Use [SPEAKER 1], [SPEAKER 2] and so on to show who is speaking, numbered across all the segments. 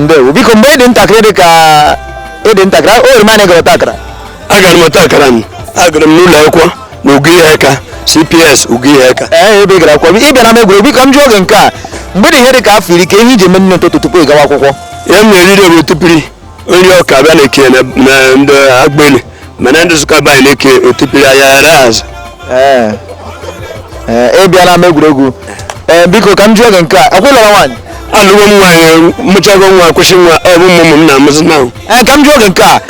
[SPEAKER 1] ndewo biko mgbe ị dị ntakịrị dị ka ị dị ntakịrị o nwere mgbe ị gara ọta akara agara m ọta akara m agara m n'ụlọ akwụkwọ na Ugo Iheaka cps Ugo Iheaka ee ebe ị gara akwụkwọ ị bịa n'ama egwuregwu biko m jụọ gị nke a mgbe ị dị ihe dị ka afọ iri ke ihe i ji eme nri ụtụtụ tupu ị gawa akwụkwọ ihe m na-eriri bụ otipiri ọ nri ọka abịa na-eke na na ndị agbeli mana ndị Nsụka be anyị na-eke otipiri anya ghara azụ Ee. Ee, ị bịa n'ama egwuregwu ee biko ka m jụọ gị nke a ọkwa ị lụrụ nwaanyị alụgo m nwaanyị mụchago nwa kwụsị nwa ọ bụ ụmụ m na-amụzi na ee ka m jụọ gị nke a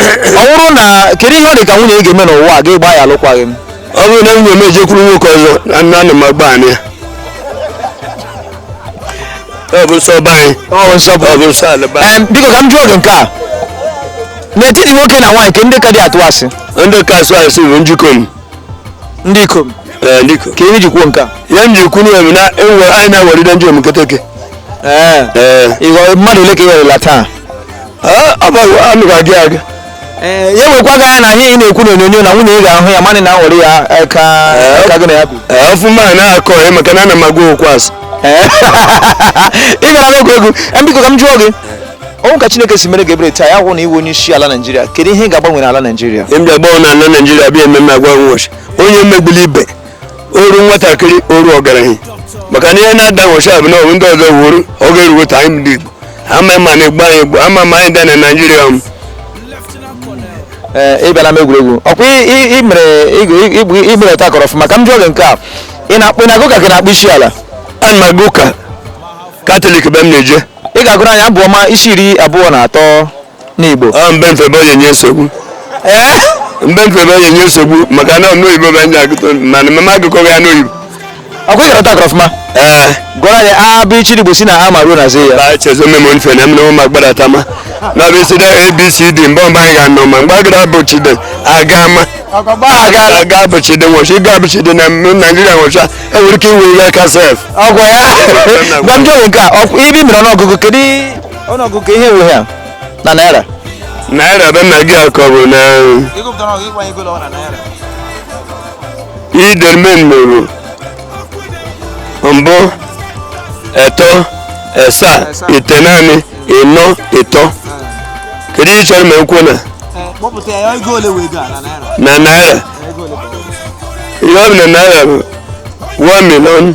[SPEAKER 1] ọ bụrụ na kedu ihe ọ dị ka nwunye gị ga-eme n'ụwa ị ga-agba ya alụkwaghị m ọ bụrụ na nwunye m ejekwuru nwoke ọzọ na nna nna m agba anyị ọ bụ nsọ be anyị ọ bụ nsọ ọ bụ nsọ ala be anyị Em, biko ka m jụọ gị nke a n'etiti nwoke na nwaanyị ke ndị ka atụ asị ndị ka asị asị bụ ndị ikom ndị ikom ee ndị ikom ke ihe i ji kwuo nke a ihe m ji kwuru ya bụ na enwe anyị na-aghọrịde ndị omeketeke ee ee ịghọ- mmadụ ole ka ị ghọrịla taa ọ bụ amị ga-aga aga ee ya wekwa gị anya na ihe ị na-ekwu n'onyonyo na nwunye gị ga-ahụ ya mana ị na-aghọrị ya eh, ka Ee. ka gị na ya bi ee ọfụma a na-akọ ya maka na ana m agwa okwu asị Ee. ị gara n'oge egwu Em, biko ka m jụọ gị ọ wụ ka chineke si mere gị ebere taa ya hụ na ị wụ onye isi ala naijiria kedu ihe ị ga-agbanwe n'ala naijiria m bịa gbọọ na ala naijiria bịa ememe agwa nwụchi onye emegbule ibe o ruo nwatakịrị o ruo ọgaranya maka na ihe na-ada nwụcha bụ na ọbụ ndị ọzọ wuru oge eruwe ta anyị ndị Igbo ama ma na-egbu anyị egbu ama ma anyị dị na Naịjirịa m ee ị bịa n'ama egwuregwu ọkwa ị- ị- ị mere ị- ị- ị- ị mere ọta akara ọfụma ka m jụọ gị nke a ị na-akpụ ị na-aga ụka ka ị na-akpọ isi ala ana m aga ụka katọlik be m na-eje ị ga-agụrụ anyị abụ ọma isi iri abụọ na atọ n'Igbo ọ mbe mfebe onye nye nsogbu ee mbe mfebe onye nye nsogbu maka na ọnụ oyibo bụ ndị agụtọ mana mama agụkọ ya n'oyibo ọkwa ị gara ọta ọfụma ee gụọrọ anyị a b ch d igbo si na a ma ruo na z ya ba chezo memo nfe na mmewo ma gbara tama na bụ isi da abcd mgbe mgbe anyị ga-anọ ma mgbe agara bụ chide aga ma aga aga bụ chide nwọchi ịga bụ chide na m- naijiria nwọcha enwere ike iwe ihe aka sef ọgwụ ngwa m jụọ gị nke a ọkwa ị mere ọnụọgụgụ kedu ọnụọgụ ka ihe wee ya na naira naira be na gị akọ bụ na idermen mụrụ mbụ eto esa itenaanị ịnọ ịtọ kedu ihe ị chọrọ m kwuo na na naira ihe ọ bụ na naira bụ 1 million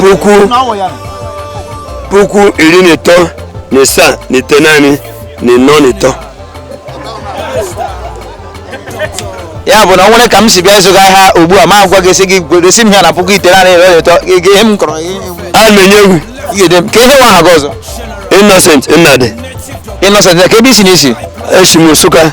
[SPEAKER 1] puku puku iri na ịtọ na ịsaa na itenaanị na ịnọ na ịtọ ya bụ na ọ nwere ka m si bịa ịzụ gị ahịa ugbu a m agwa gị sị gị gosi m ya na puku itenaanị iri na ịtọ gị ihe m kọrọ gị a na-enye egwu ị ga-ede m kee ihe wụ aha gị ọzọ innocent nnadị innocent kee ebe i si na isi esi m nsụka